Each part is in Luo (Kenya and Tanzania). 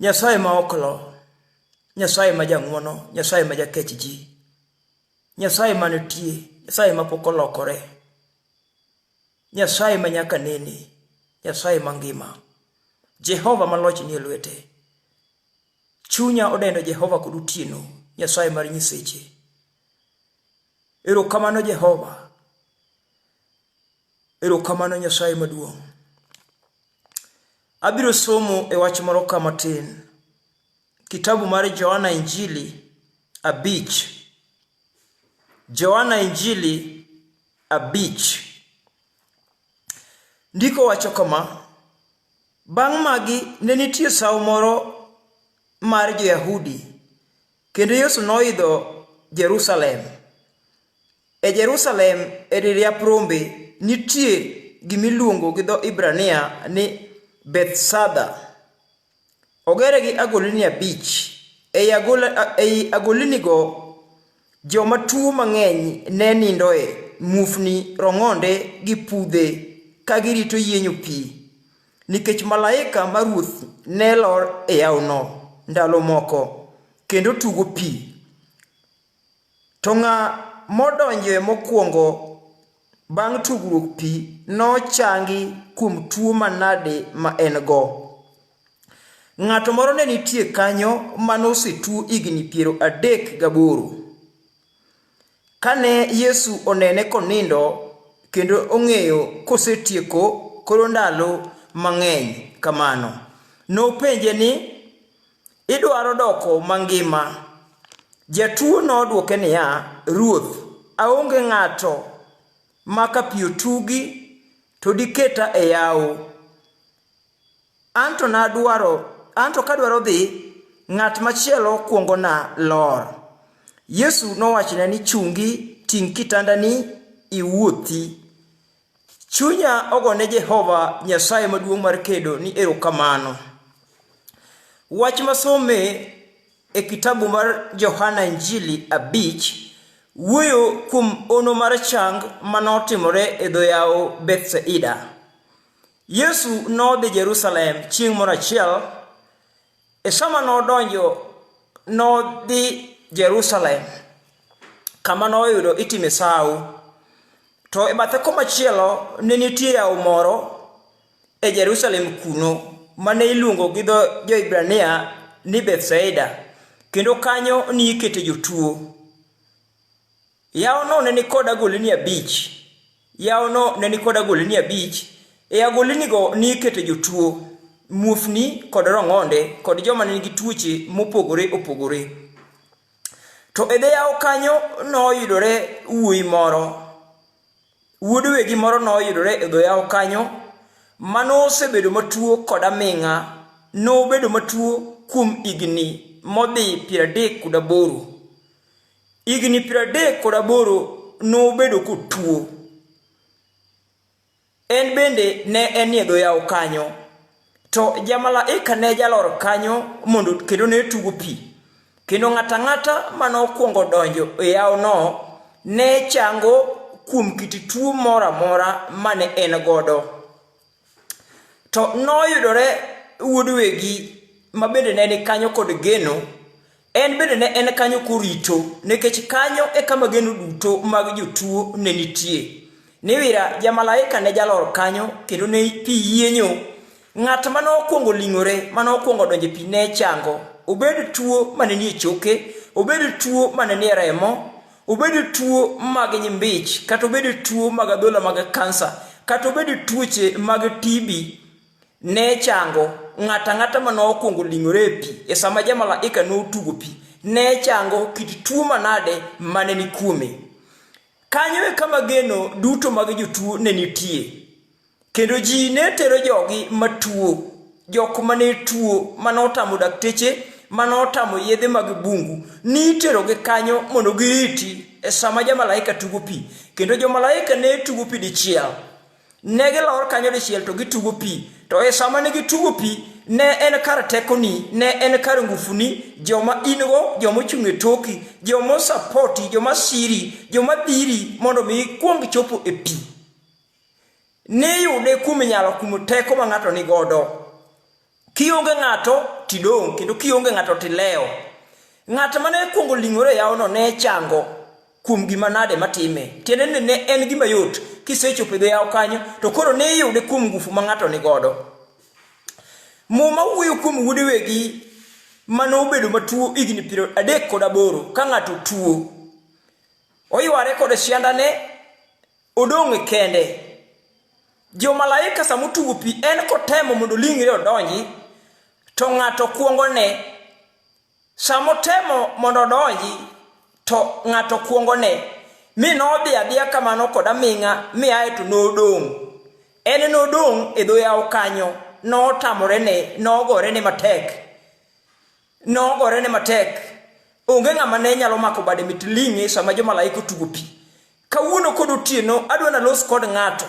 Nyasaye ma ok lo, Nyasaye ma jang'wono, Nyasaye ma jakech ji, Nyasaye ma nitie, Nyasaye ma pok olokore, Nyasaye ma nyaka nene, Nyasaye ma ngima, Jehova ma loch nie lwete. Chunya odendo Jehova kod otieno, Nyasaye mar nyiseche. Erokamano Jehova. Erokamano Nyasaye maduong'. Abiro somo e wach moro ka matin. Kitabu mar Johana Injili abich. Johana Injili abich. Ndiko wacho kama, Bang' magi ne nitie sawo moro mar jo-Yahudi, kendo Yesu noidho Jerusalem. E Jerusalem e dir yap rombe nitie gimiluongo gi dho Hibrania ni Bethsada. Ogere gi agolini abich. Ei, agol, ei agolinigo joma tuo mang'eny ne nindoe, muofni, rong'onde gi pudhe ka girito yienyo pi, nikech malaika ma Ruoth ne lor e yawno ndalo moko, kendo tugo pi. To ng'a modonjoe mokwongo bang' tugruok pi nochangi kuom tuo manade ma en-go? Ng'ato moro ne nitie kanyo ma nosetuo higni piero adek gaboro. Kane Yesu onene konindo kendo ong'eyo kosetieko koro ndalo mang'eny kamano, nopenje ni, Idwaro doko mangima? Jatuo nodwoke niya, Ruoth, aonge ng'ato ma ka pi otugi to diketa e yawo. Anto nadwaro, anto kadwaro dhi, ng'at machielo kuongona lor. Yesu nowachone ni, Chungi, ting' kitandani, iwuothi. Chunya ogo ne Jehova Nyasaye maduong' mar kedo ni erokamano. Wach masome e kitabu mar Johana Injili abich wuoyo kuom ono mar chang manotimore e dho yawo Bethsaida. Yesu nodhi Jerusalem chieng' moro achiel E sama nodonjo nodhi Jerusalem kama noyudo itime sawo, to e bathe komachielo ne nitie yawo moro e Jerusalem kuno mane iluongo gi dho jo-Hibrania ni Bethsaida, kendo kanyo ni ikete jotuo. Yawono ne nikod agolini abich. Yawono ne nikod agolini abich. E agolinigo nikete jotuo, muofni kod rong'onde kod joma ne nigi tuoche mopogore opogore. To e dho yawo kanyo noyudore wuoyi moro, wuod wegi moro noyudore e dho yawo kanyo ma nosebedo matuo kod aming'a, nobedo matuo kuom higni modhi piero adek kod aboro. Higni piero adek kod aboro nobedo kotuo. En bende ne enie dho yawo kanyo. To jamalaika ne jalor kanyo mondo kendo ne tugo pi. Kendo ng'ato ang'ata ma nokwongo donjo e yawono ne chango kuom kit tuo moro amora ma ne en godo. To noyudore wuod wegi ma bende ne ni kanyo kod geno, en bende ne en kanyo korito, nikech kanyo e kama geno duto mag jotuo ne nitie. Niwira jamalaika ne jalor kanyo kendo ne pi yienyo. Ng'at ma nokwongo ling'ore, ma nokwongo donje pi ne chango. Obed tuo ma ne nie choke, obed tuo ma ne nie remo, obed tuo mag nyimbich kata obed tuo mag adhola mag kansa kata obed tuoche mag TB ne chango ng'ata ng'ata ma nokwongo ling'ore e pi e sama jamalaika notugo pi ne chango kit tuo manade mane ni kuome kanyo e kama geno duto mag jotuo ne nitie Kendo ji ne tero jogi matuo, jok ma ne tuo, ma notamo dakteche, ma notamo yedhe mag bungu, niterogi kanyo mondo giriti e sama jamalaika tugo pi. Kendo jomalaika ne tugo pi dichiel. Ne gilor kanyo dichiel to gitugo pi. To e sama ne gitugo pi, ne en kar tekoni, ne en kar ngufuni, joma in-go, joma ochung' e toki, joma osapoti, joma siri, joma dhiri mondo mi ikwong chopo e pi. Niyude kuom nyalo kuom teko ma ng'ato ni godo. Kionge ng'ato tidong' kendo kionge ng'ato tilewo. Ng'at ma ne kwongo ling'ore e yawono ne chango kuom gima nade matime. Tiende ni ne en gima yot kisechopo e dho yawo kanyo to koro niyude kuom ngufu ma ng'ato ni godo. Muma wuoyo kuom wuode wegi ma nobedo matuo higni piero adek kod aboro ka ng'ato tuo. Oyware kod siandane Odong' kende. Jo malaika sama otugo pi en kotemo mondo olingre odonji to ng'ato kwongo ne. Sama otemo mondo odonji to ng'ato kwongo ne. Mi nodhi adhiya kamano kod aming'a mi aye to nodong'. En nodong' e dho yawo kanyo notamore ne nogore ne matek. Nogorene matek. Onge ng'ama ne nyalo mako bade mit ling'e sama jomalaika otugo pi. Kawuono kod otieno adwa nalos kod ng'ato.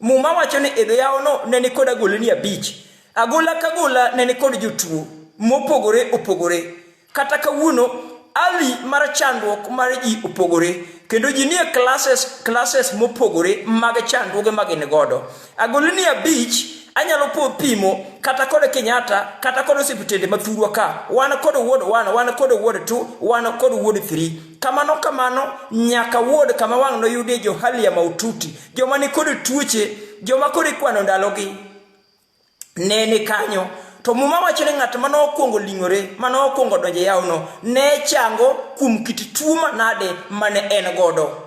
Muma wacho ni idho yawono ne ni kod agoleni abich. Agola ka gola ne ni kod jotuo mopogore opogore. Kata kawuono ali mar chandruok mar ji opogore kendo ji nie classes classes mopogore mag chandruoge ma gin godo. Agolini abich anyalo po pimo kata kod Kenyatta kata kod osiptende ma thurwa ka wan kod wuod wan wan kod wuod tu wan kod wuod thiri kamano kamano nyaka wuod kama wang' noyudie jo hali ya maututi joma ni kod tuoche joma kod ikwano ndalogi ne ni kanyo to muma wacho ni ng'at ma nokwongo ling'ore ma nokwongo donje yawno ne chango kuom kit tuo manade mane en godo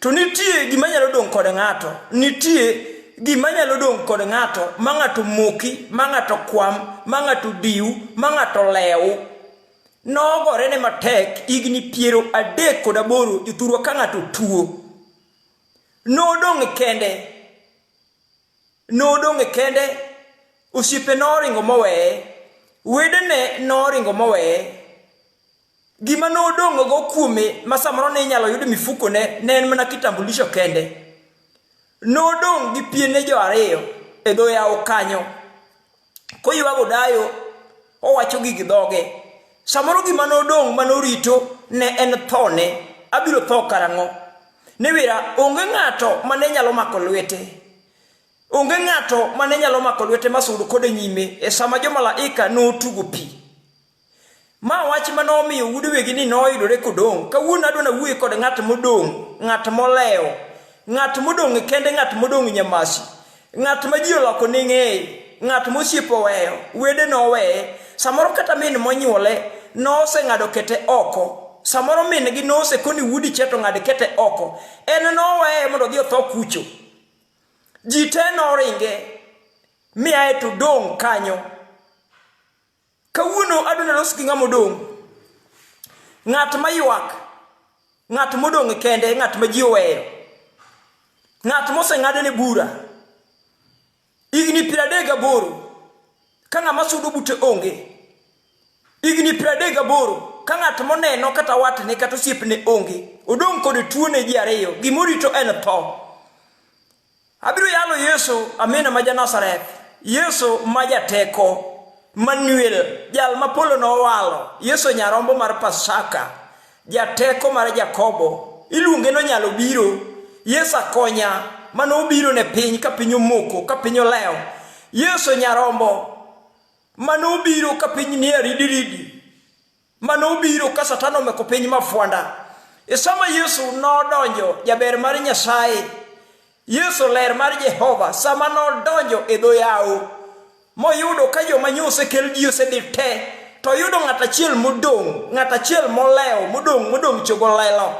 To nitie gima nyalo dong' kod ng'ato, nitie gima nyalo dong' kod ng'ato ma ng'ato moki, ma ng'ato kwam, ma ng'ato diw, ma ng'ato lew. Nogore ne matek higni piero adek kod aboro e thurwa ka ng'ato tuo. Nodong' kende, nodong' kende, osiepe noringo moweye, wedene noringo moweye, Gima nodong'go kuome ma samoro ne inyalo yud mifukone ne en mana kitambulisho kende. Nodong' gi piene jo ariyo e dho yawo kanyo. Koywago dayo, owacho gig dhoge. Samoro gima nodong' ma norito ne en thone. Abiro tho karang'o? Ni wira, onge ng'ato ma ne nyalo mako lwete. Onge ng'ato ma ne nyalo mako lwete ma sud kode nyime e sama jomalaika notugo pi. Ma wach ma nomiyo wuod wegi ni noyudore kodong'. Kawuono adwa nawuoye kod ng'at modong', ng'at molewo, ng'at modong' kende, ng'at modong' nyamasi, ng'at ma ji oloko ni ng'eye, ng'at mosiep oweyo, wede noweye, samoro kata min monyuole noseng'ado kete oko, samoro min gi nosekoni wuodi cheto ng'ad kete oko, en noweye mondo odhi otho kucho. Ji te noringe, miaye to dong' kanyo. Kawuono adwa nalos gi ng'ama odong'. Ng'at ma ywak, ng'at modong' kende, ng'at ma ji oweyo, ng'at moseng'adene bura. Higni piero adek gaboro ka ng'ama sudo bute onge. Higni piero adek gaboro ka ng'at moneno kata watne kata osiepne onge. Odong' kod tuone ji ariyo, gimorito en tho. Abiro yalo Yesu amina ma ja Nazareth, Yesu ma jateko, Manuel, jal ma polo nowalo, Yesu nyarombo mar Pasaka, jateko mar Jakobo, iluonge nonyalo biro, Yesu akonya, mane obiro ne piny ka piny omoko, ka piny olewo, Yesu nyarombo, mane obiro ka piny nie ridiridi, mane obiro ka Satan omeko piny mafwanda. E sama Yesu nodonjo jaber mar Nyasaye, Yesu ler mar Jehova, sama nodonjo e dho yawo, moyudo ka joma nyo osekel ji osedhi te, to oyudo ng'at achiel modong', ng'at achiel molewo, modong' modong' chogo lelo.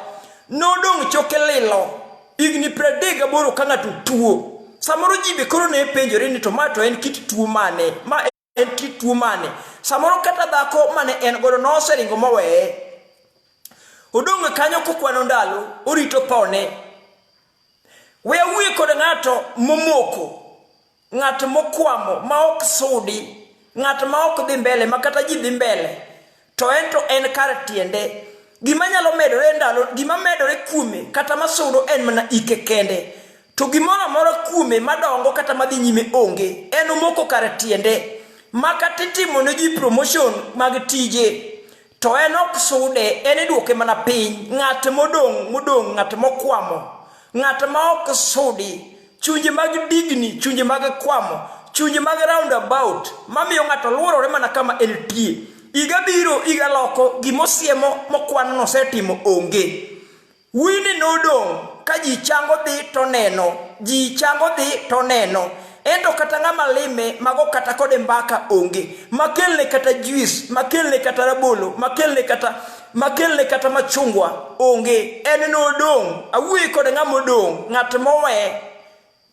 Nodong' choke lilo, higni pradek gaboro ka ng'ato tuo. Samoro ji be koro ne penjore ni to ma to en kit tuo mane? Ma en kit tuo mane samoro kata dhako mane en godo noseringo moweye odong' e kanyo kokwano ndalo orito pone we awuye kod ng'ato momoko ng'at mokwamo ma ok sudi ng'at ma ok dhi mbele ma kata ji dhi mbele to en to en kar tiende. Gima nyalo medore ndalo, gima medore kuome kata masudo en mana ike kende. To gimoro amora kuome madongo kata madhi nyime onge, en omoko kar tiende. Ma kata itimo ne ji promotion mag tije, to en ok sude, en idwoke mana piny. Ng'at modong' modong', ng'at mokwamo, ng'at ma ok sudi, chunje mag digni, chunje mag kwamo, chunje mag roundabout mamiyo ng'ato luorore mana kama entie. Iga biro, iga loko, gimosiemo mokwan nosetimo onge. Wini nodong' ka ji chango dhi to neno, ji chango dhi to neno. Ento kata ng'ama lime mago kata kode mbaka onge, makelne kata juis, makelne kata rabolo, makelne kata makelne kata machungwa onge en nodong' awuoyi kod ng'ama odong' ng'at mowe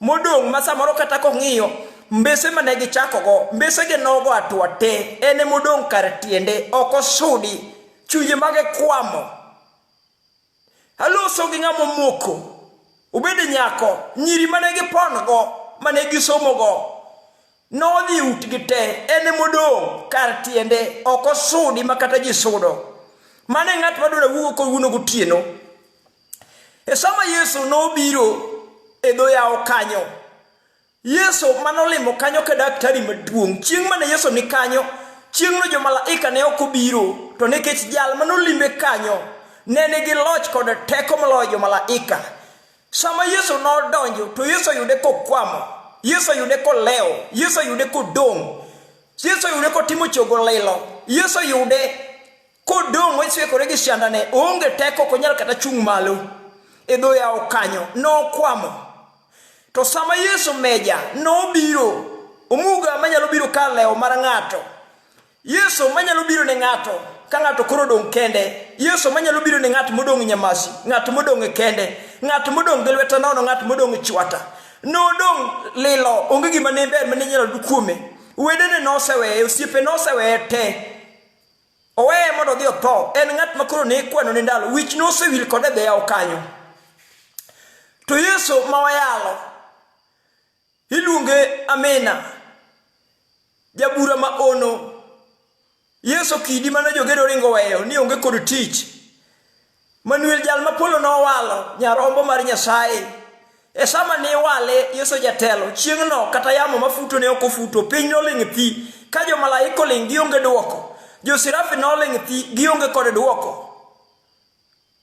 modong' ma samoro kata kong'iyo mbese ma ne gichakogo mbese gi nogo atwa te en e modong' kar tiende ok osudi chunje mage kwamo aloso gi ng'ama omoko obed nyako nyiri ma ne gipongo ma ne gisomogo Nodhi utgi te, en e modong' kar tiende, ok osudi ma kata ji sudo. Mano e ng'at madwaro wugo kowuono gotieno. E sama Yesu nobiro e dho yawo kanyo, Yesu manolimo kanyo ka daktari maduong', chieng' mane Yesu ni kanyo, chieng'no jo malaika ne ok obiro, to nikech jal manolimbe kanyo ne nigi loch kod teko moloyo jo malaika. Sama Yesu nodonjo, to Yesu oyude kokwamo, Yesu oyude kolewo, Yesu oyude kodong', Yesu oyude kotimo chogo lilo, Yesu oyude kodong' ochiekore gi siandane, oonge teko, ok onyal kata chung' malo e dho yawo kanyo, nokwamo. To sama Yesu meja nobiro, omuga manyalo biro ka lewo mar ng'ato, Yesu manyalo biro ne ng'ato ka ng'ato koro odong' kende yesu manyalo biro ne ng'at modong' e nyamasi ng'at modong' e kende ng'at modong' gi lweta nono ng'at modong' e chwata nodong' lilo onge gima ne ber mane nyalo du kuome wedene noseweye osiepe noseweye te oweye mondo odhi otho en ng'at ma koro ne ikwano ne ndalo wich nosewil kode dheyawo kanyo to yesu ma wayalo Iluonge Amina. Jabura ma ono. Yesu kidi mane jogedo ringo weyo ni onge kod tich. Manuel jal ma polo nowalo nyarombo mar Nyasaye. E sama ne iwale Yesu jatelo, chieng'no kata yamo mafuto ne ok ofuto, piny noling' thi, ka jo malaika oling' gionge dwoko, jo sirafi noling' thi gionge kod dwoko.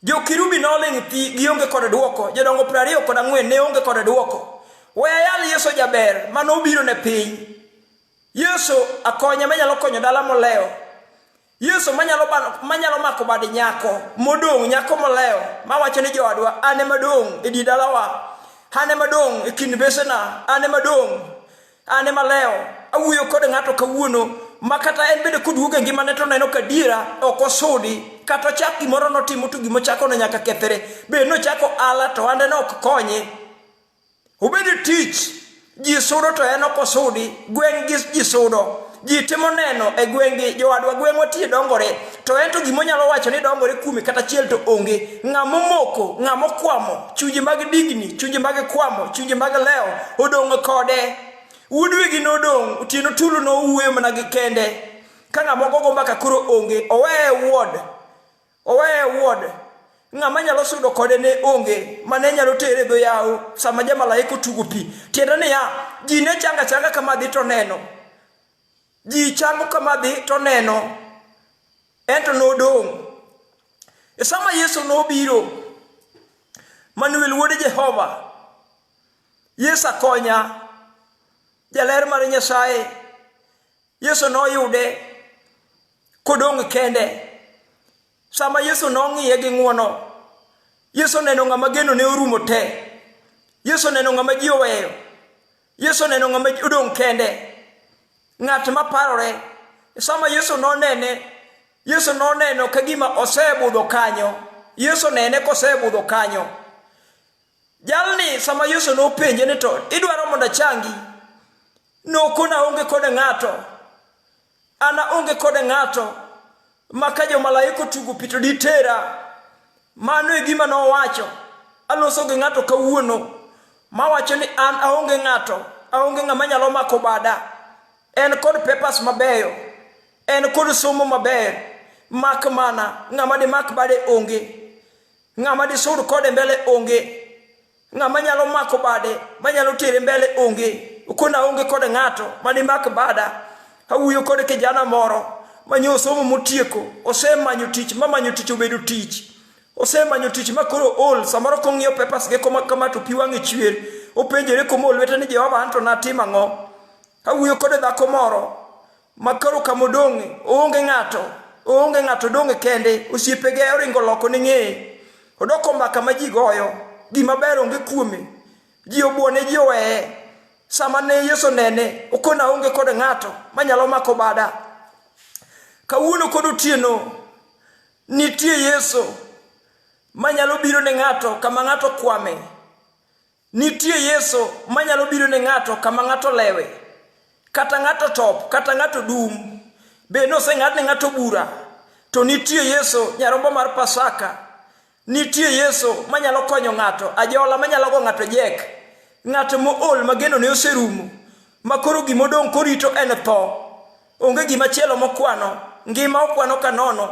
Jokirubi noling' thi, gionge kod dwoko. Jodongo piero ariyo kod ang'wen ne onge kod dwoko. We ayal Yesu jaber ma nobiro ne piny. Yesu akonya manyalo konyo dala molewo. Yesu manyalo, manyalo mako bad nyako modong', nyako molewo, mawacho ni joodwa, an ema dong' e di dalawa, an ema dong' e kind besena, an ema dong'. An ema lewo, awuoyo kod ng'ato kawuono ma kata en bende koduogo e ngimane to neno ka diera ok osudi kata ochak gimoro notimo to gima ochako ne nyaka kethre bed nochako ala to ande ne ok konye obed tich ji sudo to en ok osudi gweng' gi ji sudo ji timo neno e gweng'gi jowadwa gweng'wa tie dongore to en to gima onyalo wacho ni dongore kuome kata chiel to onge ng'ama omoko ng'ama okwamo chunje mag digni chunje mag kwamo chunje mag lewo odong' kode wuodwegi nodong' otieno tulu nowuoyo mana gi kende ka ng'ama ogogo mbaka koro onge oweye wuod Oweye e wuode. Ng'ama nyalo sudo kode ne onge, ma ne nyalo tere dho yawo sama jamalaika otugo pi. Tiende niya, ji ne changa changa kama dhi to neno. Ji chango kama dhi to neno. Ento nodong'. E sama Yesu nobiro, Manuel wuod Jehova, Yesu akonya, jaler mar Nyasaye, Yesu noyude kodong' kende. Sama Yesu nong'iye gi ng'wono, Yesu neno ng'ama geno ne orumo te. Yesu neno ng'ama ji oweyo. Yesu neno ng'ama odong' kende. Ng'at ma parore. Sama Yesu nonene, Yesu noneno ka gima osebudho kanyo. Yesu nene kosebudho kanyo. Jalni sama Yesu nopenje ni to idwaro mondo achangi? Nokona onge kod ng'ato An aonge kode ng'ato ma ka jomalaika otugo pi to ditera. Mano e gima nowacho. Aloso gi ng'ato kawuono mawacho ni an aonge ng'ato, aonge ng'ama nyalo mako bada. En kod papers mabeyo, en kod somo maber, mak mana ng'ama dimak bade onge, ng'ama disud kode mbele onge. Ng'ama nyalo mako bade, manyalo tere mbele onge. Okona aonge kod ng'ato manimak bada. Awuoyo kod kijana moro manyo osomo motieko, osemanyo tich, mamanyo tich obedo tich. Osemanyo tich ma koro ol, samoro kong'iyo papers ge koma kama to pi wang'e chwer. Openjore komo lwete ni Jehova anto natim ang'o? Awuoyo kod dhako moro Makoro kama odong' oonge ng'ato, oonge ng'ato odong' e kende, osiepege oringo loko ne ng'eye. Odoko mbaka ma ji goyo, gima ber onge kuome. Ji obuone, ji oweye. Sama ne Yesu nene, okona aonge kod ng'ato manyalo mako bada. Kawuono kod otieno, nitie Yesu manyalo biro ne ng'ato kama ng'ato kwame. Nitie Yesu manyalo biro ne ng'ato kama ng'ato lewe, kata ng'ato top, kata ng'ato dum. Be noseng'ad ne ng'ato bura? To nitie Yesu nyarombo mar Pasaka. Nitie Yesu manyalo konyo ng'ato, ajola manyalo go ng'ato jek, ng'ato mool ma geno ne oserumo, ma koro gima odong' korito en tho. Onge gima chielo mokwano, ngima okwano ka nono.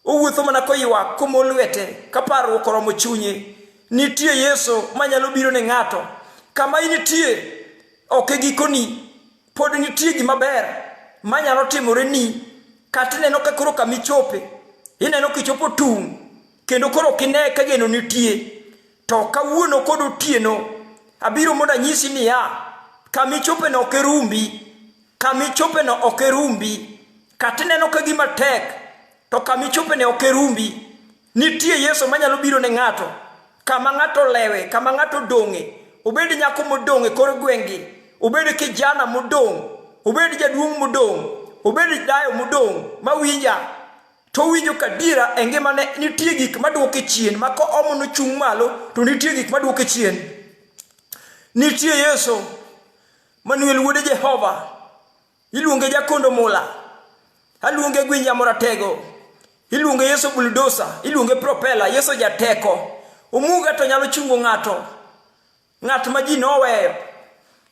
Owuotho mana koywak, komo lwete, ka parruok oromo chunye. Nitie Yesu manyalo biro ne ng'ato. Kama initie ok e gikoni, pod nitie gima ber manyalo timore ni. Kata ineno ka koro kama ichope, ineno kichopo tung', kendo koro ok ine ka geno nitie. To kawuono kod otieno, abiro mondo anyisi niya, kama ichopeno ok irumbi, kama ichopeno ok irumbi. Kata ineno ka gima tek, to kama ichope ne ok erumbi. Nitie Yesu manyalo biro ne ng'ato, kama ng'ato lewe, kama ng'ato dong'e, obed nyako modong' e kor gweng'gi, obed kijana modong', obed jaduong' modong', obed dayo modong' mawinja, to owinjo ka diera e ngimane nitie gik maduoke chien, ma ka omo nochung' malo, to nitie gik maduoke chien. Nitie Yesu, Manuel wuode Jehova, Iluonge Jakondo Mula, aluonge Gwinja Moratego, iluonge Yesu Buldosa, iluonge Propela, Yesu Jateko. Omuga to nyalo chungo ng'ato, ng'at ma ji noweyo.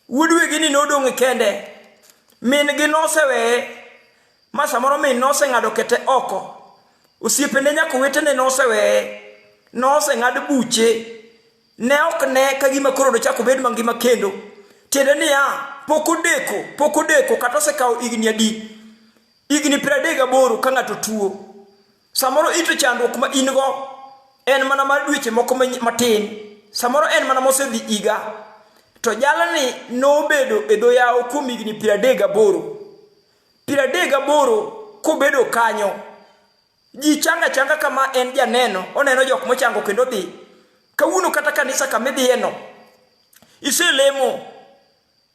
Wuod wegi ni nodong' kende, min gi noseweye, ma samoro min noseng'ado kete oko. Osiepene nyaka owetene noseweye, noseng'ad buche. Ne ok ne ka gima koro dochako bed mangima kendo. Tiende niya, pok odeko, pok odeko, kata osekawo igni adi. Igni piero adek gaboro ka ng'ato tuo. Samoro ito chandruok ma in go en mana mar dweche moko matin. Samoro en mana mosedhi iga. To jalni nobedo e dho yawo kuom igni piero adek gaboro. Piero adek gaboro kobedo kanyo. Ji changa changa kama en janeno, oneno jok mochango kendo dhi. Kawuono kata kanisa kama idhiyeno, iselemo,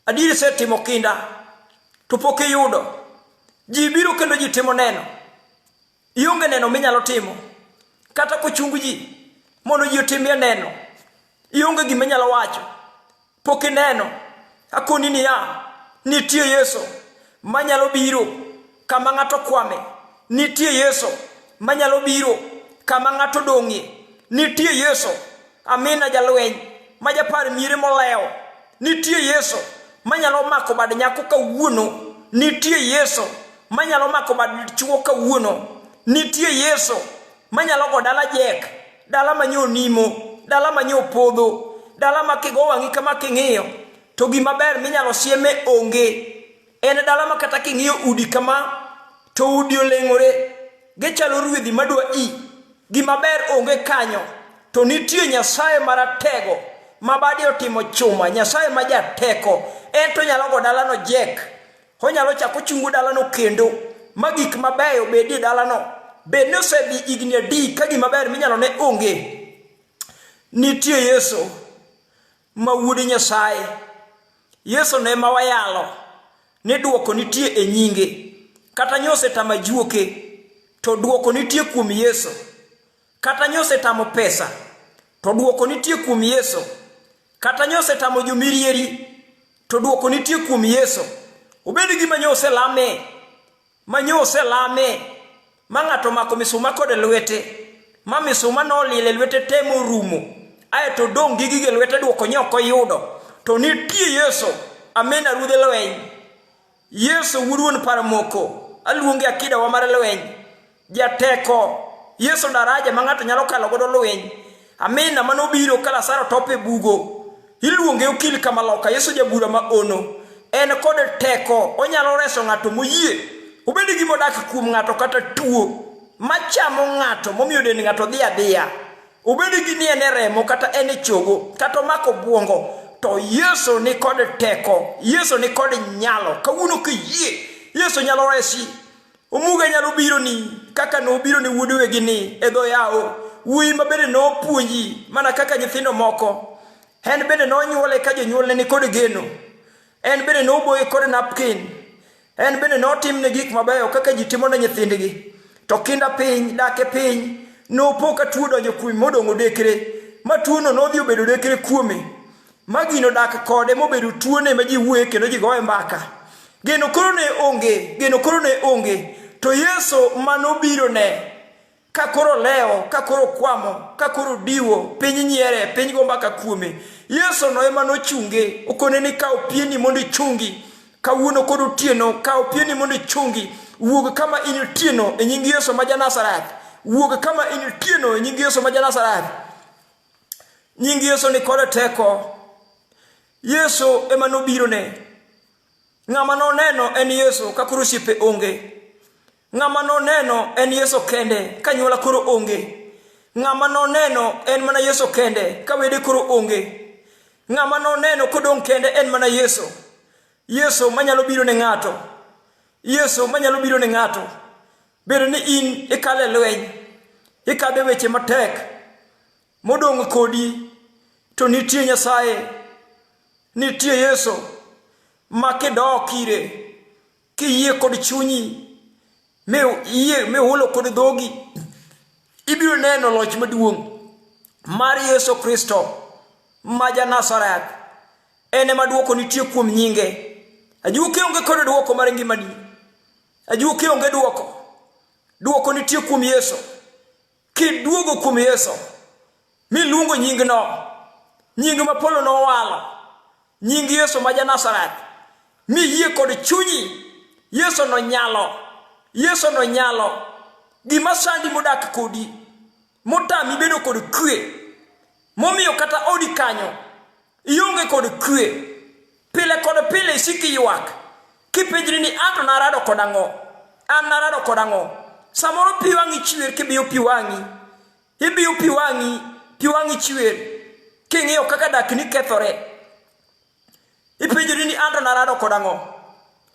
adier isetimo kinda, to pok iyudo. Ji biro kendo ji timo neno. Ionge neno minyalo timo. Kata kochung ji mondo ji otimie neno. Ionge gima inyalo wacho. pok ineno, akoni niya, nitie Yesu manyalo biro kama ng'ato kwame, nitie Yesu manyalo biro kama ng'ato dong'ie, nitie Yesu amina jalweny ma japar miere molewo, nitie Yesu manyalo mako bad nyako kawuono, nitie Yesu manyalo mako bad chuo kawuono, nitie Yesu manyalo go dala jek, dala ma nyo nimo dala ma nyo podho dala ma kigo wang'i kama king'iyo to gima ber minyalo sieme onge en dala ma kata king'iyo udi kama to udi oleng'ore gichalo ruedhi madwa i gima ber onge kanyo to nitie nyasaye maratego ma badi otimo chuma nyasaye ma jateko en to nyalo go dalano jek Onyalo chako ochungo dalano kendo ma gik mabeyo bedie dalano. Bed ni osedhi higni adi ka gima ber minyalo ne onge. Nitie Yesu ma wuod Nyasaye. Yesu ne ma wayalo ni duoko nitie e nyinge. Kata nyose tama juoke to duoko nitie kuom Yesu. Kata nyosetamo pesa, to dwoko nitie kuom Yesu. Kata nyosetamo jomirieri, to dwoko nitie kuom Yesu. Obed gima nyoselame, ma nyoselame, ma ng'ato mako misuma kod lwete, ma misuma nolile lwete temo rumo, ae to dong' gi gige lwete dwoko nyoko yudo, to nitie Yesu. Amina ruodhe lweny. Yesu wuruon paro moko. Aluonge akida wa mar lweny. Jateko. Yesu daraja ma ng'ato nyalo kalo godo lweny. Amina mano biro ka Lazaro top e bugo. Iluonge okil kama loka. Yesu jabura ma ono. En kod teko. Onyalo reso ng'ato moyie. Obed gi modak kuom ng'ato kata tuo. Machamo ng'ato momiyo dend ng'ato dhi adhiya. Obedi gi ni en e remo kata en e chogo kata omako bwongo to Yesu ni kod teko, Yesu ni kod nyalo. Kawuono kiyie, Yesu nyalo resi. Omuga nyalo biro ni kaka nobiro ne wuod wegi ni e dho yawo. Wuoyi ma bende nopuonji mana kaka nyithindo moko. En bende nonyuole ka jonyuolne ni kod geno. En bende noboye kod napkin. En bende notimne gik mabeyo kaka ji timo ne nyithindgi. To kinda piny, dak e piny, nopo ka tuo donjo kuome modong' odekre, ma tuono nodhi obedo odekre kuome, ma gino dak kode mobedo tuone ma ji wuoye kendo ji goye mbaka. Geno koro ne onge, geno koro ne onge, to Yesu ma nobirone ka koro lewo ka koro kwamo ka koro diwo piny nyiere piny go mbaka kuome yesu no ema nochunge okone ni kawo pieni mondo ichungi kawuono kod otieno kawo pieni mondo ichungi wuog kama in otieno e nying yesu ma janazareth wuog kama in otieno e nying yesu ma janazareth nying yesu ni kode teko yesu ema nobirone ng'ama noneno en yesu ka koro osiepe onge Ng'ama noneno en Yesu kende ka nyuola koro onge. Ng'ama noneno en mana Yesu kende ka wede koro onge. Ng'ama noneno kodong' kende en mana Yesu. Yesu manyalo biro ne ng'ato. Yesu manyalo biro ne ng'ato. Bedo ni in ikale lweny, ikadhe weche matek, modong' kodi to nitie Nyasaye, nitie Yesu ma kidok ire kiyie kod chunyi mi iyie mi hulo kod dhogi ibiro neno loch maduong' mar yesu kristo ma ja nazareth en ema dwoko nitie kuom nyinge ajuoke onge kod dwoko mar ngimani ajuoke onge dwoko dwoko nitie kuom yesu Kiduogo kuom Yesu, miluongo nyingno, nying ma Paulo nowalo, nying Yesu ma Janazareth, miyie kod chunyi, Yesu nonyalo, Yesu nonyalo, gima sandi modak kodi, motami bedo kod kwe, momiyo kata odi kanyo Ionge kod kwe. Pile kod pile isiki ywak. Kipenjri ni anto narado kod ang'o? An narado kod ang'o? Samoro pi wang'i chwer kibiyo pi wang'i. Ibiyo pi wang'i, pi wang'i chwer. King'iyo kaka dak ni kethore. Ipenjri ni anto narado kod ang'o?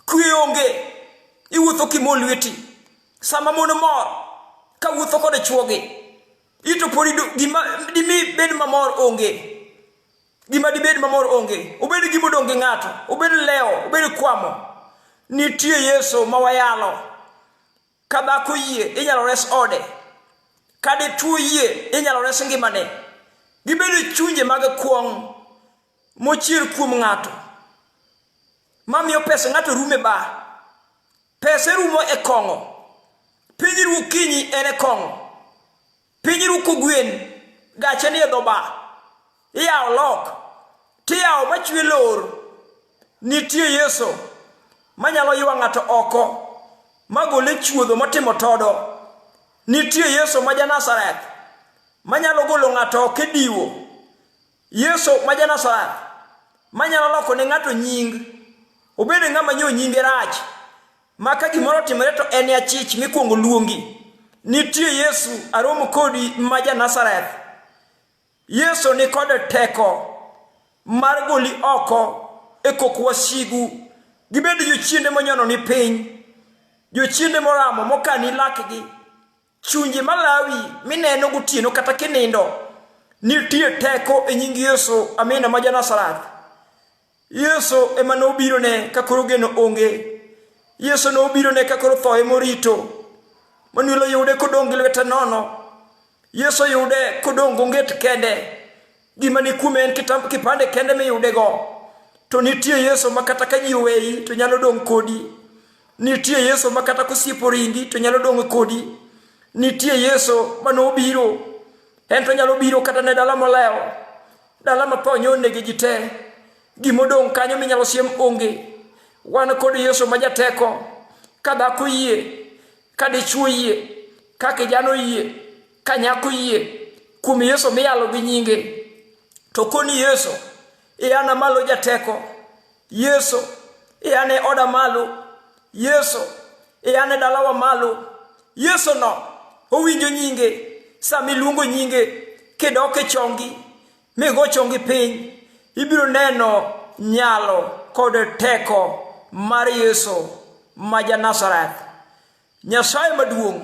Kwe onge. Iwuotho kimo lweti. Sama mon mor, ka wuotho kod chwogi. Ito podi gima dimi bed mamor onge. Gima dibed mamor onge. Obed gima odong' gi ng'ato. Obed lewo. Obed kwamo. Nitie Yesu ma wayalo. Ka dhako yie, inyalo res ode. Ka dichwo yie, inyalo res ngimane. Gibedo chunje mag kwong' mochier kuom ng'ato. Mamiyo pesa ng'ato rume ba. Pese rumo e kong'o. Piny ru kinyi en e kong'o. Piny ru kugwen. Gache ni e dhoba. Iyawo lok. Tiyawo machwe lor. Nitie Yesu manyalo ywa ng'ato oko magole chuodho motimo todo. Nitie Yesu ma ja Nazareth manyalo golo ng'ato oko e diwo. Yesu ma Janasareth manyalo loko ne ng'ato nying, obed ng'ama nyo nyinge rach, ma ka gimoro otimore to en achich mikwongo luongi. Nitie Yesu aromo kodi ma Janasareth. Yesu ni kod teko mar goli oko e kok wasigu. Gibed jochiende monyono ni piny, jochiende moramo mokani lakgi. Chunje malawi mineno gotieno kata kinindo nitie teko e nying Yesu amina ma Janasarath. Yesu ema nobiro ne ka koro geno onge. Yesu nobiro ne ka koro thoye morito. Manuel yude kodong' gi lwete nono. Yesu yude kodong' gonget kende. Gima ni kume en kipande kende miyudego. To nitie Yesu ma kata ka ji oweyi to nyalo dong' kodi. Nitie Yesu ma kata kosiepo ringi to nyalo dong' kodi. Nitie Yesu ma nobiro. En to nyalo biro kata ne dala molewo. Dala ma tho nyonegi ji te. Gimodong' kanyo minyalo siem onge. Wan kod Yesu ma jateko. Ka dhako yie, ka dichwo yie, ka kijana oyie, ka nyako yie kuom yesu miyalo gi nyinge to koni yesu iyana malo jateko yesu iyane oda malo yesu iyane dalawa malo yesu no owinjo nyinge sama iluongo nyinge kidok e chongi migo chongi piny ibiro neno nyalo kod teko mar yesu ma ja nazareth Nyasaye maduong'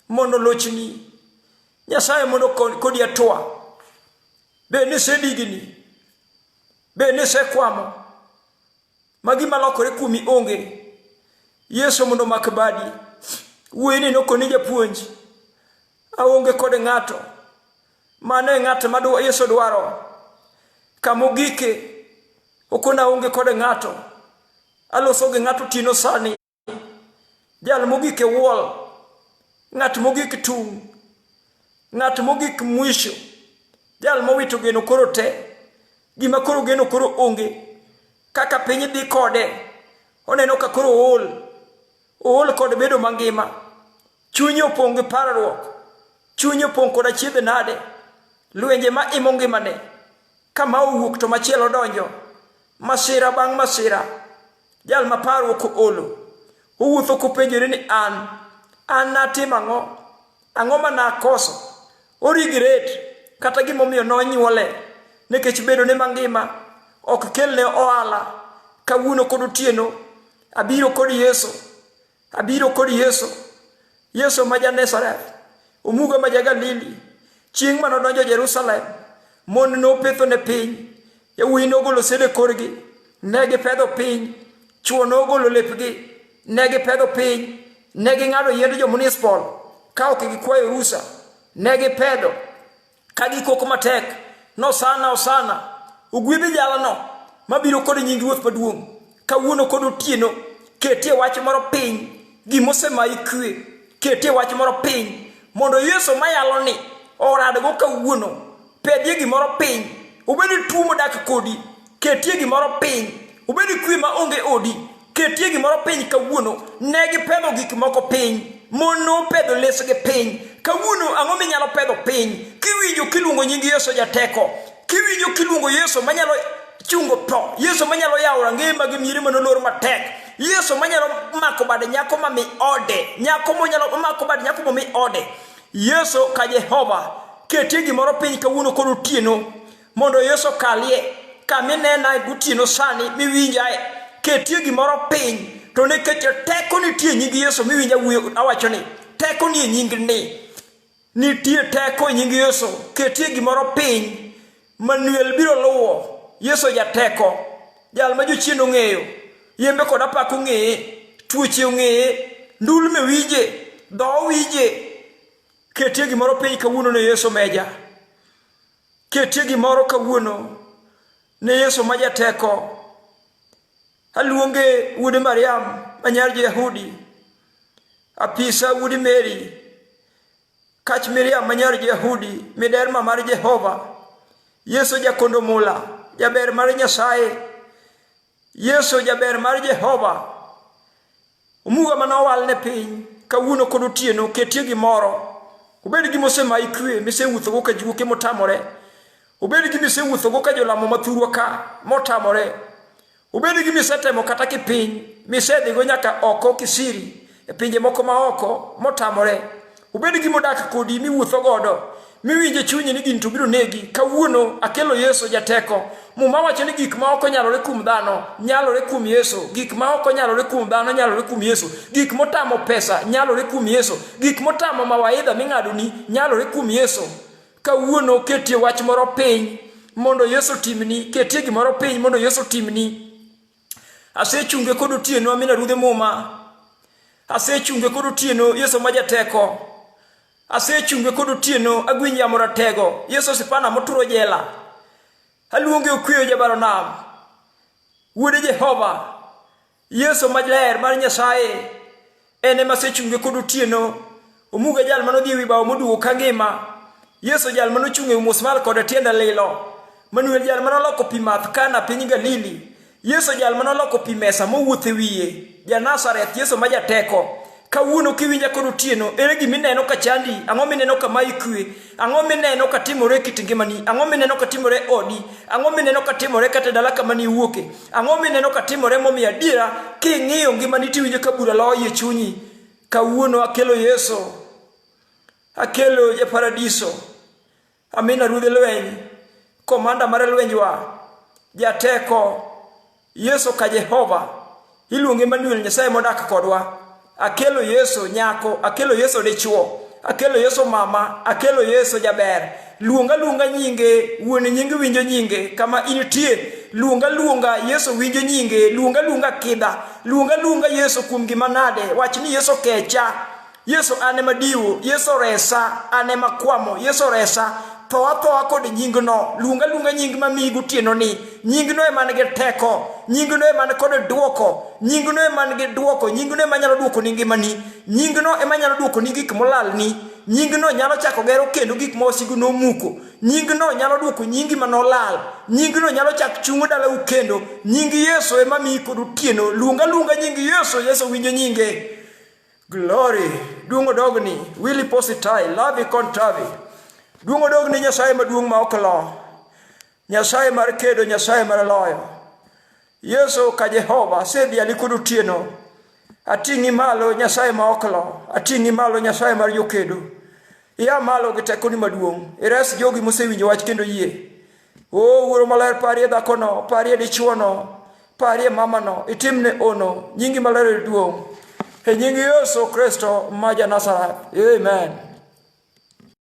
mondo lochni. Nyasaye mondo kodi atwa. Be ni sedigini. Be ni sekwamo. Magi malokore kuomi onge. Yesu mondo mak badi. Wuoyi ni nokoni japuonj. Aonge kod ng'ato. Mano e ng'at ma Yesu dwaro. Kamogike. Okona onge kod ng'ato. Aloso gi ng'ato tino sani. jal mogik e wall ng'at mogik tung' ng'at mogik mwisho jal mowito geno koro te gima koro geno koro onge kaka piny dhi kode oneno ka koro ool ool kod bedo mangima chunye opong' gi parruok chunye opong' kod achiedh nade lwenje ma imo ngimane kama owuok to machielo donjo masira bang' masira Jal ma parruok oolo, owuotho kopenjore ni an, an natim ang'o? Ang'o ma nakoso? Origret kata gimomiyo nonyuole nikech bedo ne mangima ok kelne ohala kawuono kod otieno abiro kod Yesu Abiro kod Yesu, Yesu ma ja Nazareth, omuga ma ja Galili. Chieng' ma nodonjo Jerusalem, mon nopetho ne piny, yawuoyi nogolo sede korgi, ne gipedho piny, chwo nogolo lepgi, ne gipedho piny, ne ging'ado yiend jo-Munispol ka ok gikwayo rusa, ne gipedho ka gikok matek nosana osana ogwedhi jalano mabiro kod nying ruoth maduong' kawuono kod otieno ketie wach moro piny gimosemayi kwe ketie wach moro piny mondo yesu mayalo ni oradgo kawuono pedie gimoro piny obed tuo modak kodi ketie gimoro piny obed kwe ma onge odi ketie gimoro piny kawuono ne gipedho gik moko piny mon nopedho lesgi piny kawuono ang'o minyalo pedho piny kiwinjo kiluongo nying yesu jateko kiwinjo kiluongo yesu manyalo chungo tho yesu manyalo yawo rangeye mag miere manolor matek yesu manyalo mako bad nyako mami ode nyako monyalo mako bad nyako mami ode yesu ka jehova ketie gimoro piny kawuono koro otieno mondo Yesu okalie kama inenae gotieno sani miwinjae. Ketie gimoro piny to nikech teko nitie e nying Yesu miwinja wuyo awacho ni teko ni e nying ni. Nitie teko e nying Yesu. Ketie gimoro piny. Manuel biro luwo. Yesu jateko. Jal ma jochien ong'eyo. Yembe kod apaka ong'eye. Tuoche ong'eye. Ndulme winje. Dho winje. Ketie gimoro piny kawuono ne Yesu meja. Ketie gimoro kawuono ne Yesu ma jateko. Aluonge wuode Mariam ma nyar Jo-Yahudi, apisa wuodi Meri, kach Miriam ma nyar Jo-Yahudi, miderma mar Jehova, Yesu jakondo mula, jaber mar Nyasaye, Yesu jaber mar Jehova. Omuga ma nowal ne piny kawuono kod otieno ketie gimoro. Obed gi mosemayi kwe misewuothogo ka juoke motamore. Obed gi misewuothogo ka jolamo mathurwa ka motamore. Obed gi misetemo kata kipiny misedhigo nyaka oko kisiri e pinje moko maoko motamore obed gi modak kodi miwuotho godo miwinje chunyi ni gini to biro negi kawuono akelo yesu jateko muma wacho ni gik ma ok onyalore kuom dhano nyalore kuom yesu gik ma ok onyalore kuom dhano nyalore kuom yesu gik motamo pesa nyalore kuom yesu gik motamo mawaidha ming'adoni nyalore kuom yesu kawuono ketie wach moro piny mondo yesu timni ketie gimoro piny mondo yesu timni Asechunge kod otieno amina ruodhe muma. Asechunge kod otieno Yesu ma jateko. Asechunge kod otieno agwiny yamo ratego Yesu sipana moturo jela. Aluonge okweyo jabaro nam. Wuode Jehova. Yesu maler mar Nyasaye. en ema sechunge kod otieno omuga jal mane odhi e wi bao moduogo ka ngima yesu jal mane ochung' e musmal koda tienda lilo manuel jal mane oloko pi math kana piny galili yesu jal mane oloko pi mesa mowuotho e wiye janazareth yesu ma jateko kawuono kiwinja kod otieno ere gima ineno ka chandi ang'o mineno kama ikwe Ang'o mineno ka timore e kit ngimani? Ang'o mineno ka timore e odi? Ang'o mineno ka timore kata e dala kama niwuoke? Ang'o mineno ka timore momiyo adiera king'iyo ngimani tiwinjo ka bura loyo e chunyi? Kawuono akelo Yesu. Akelo e paradiso. Amina ruodh lweny. Komanda mar lwenjwa. Jateko. Yesu ka Jehova, iluonge Emmanuel, Nyasaye modak kodwa. Akelo Yesu nyako, akelo Yesu dichwo, akelo Yesu mama, akelo Yesu jaber. Luonga luonga nyinge, wuon nyinge winjo nyinge, kama intie luonga luonga Yesu winjo nyinge, luonga luonga kidha, luonga luonga Yesu kuom gima nade, wach ni Yesu kecha. Yesu an ema diwo, Yesu oresa, an ema kwamo, Yesu oresa, tho athoa kod nyingno, luonga luonga nying mamiyi gotieno ni, nyingno ema nigi teko, nyingno ema ni kod dwoko, nyingno ema nigi dwoko, nyingno ema nyalo dwoko ni ngimani, nyingno ema nyalo dwoko ni gik molalni, nyingno nyalo chako gero kendo gik ma wasigu nomuko, nyingno nyalo dwoko nyingi ma nolal, nyingno nyalo chak chungo dalau kendo, nying Yesu ema miyi kod otieno, luonga luonga nying Yesu, Yesu winjo nyinge. Glory, duong' odogni, Willy Positai, Lavi Kontavi. Duong' odogni Nyasaye maduong' ma ok lo. Nyasaye mar kedo, Nyasaye mar loyo. Yesu ka Jehova, asedhi alikudu tieno. Ating'i malo Nyasaye ma ok lo, ating'i malo Nyasaye mar jokedo. Ia malo gi tekoni maduong', ires jogi mosewinjo wach kendo yie. O Wuoro Maler, parie dhakono, parie dichwono, parie mamano, itimne ono, nyingi maler e duong'. E nying Yesu Kristo ma ja Nazareth. Amen.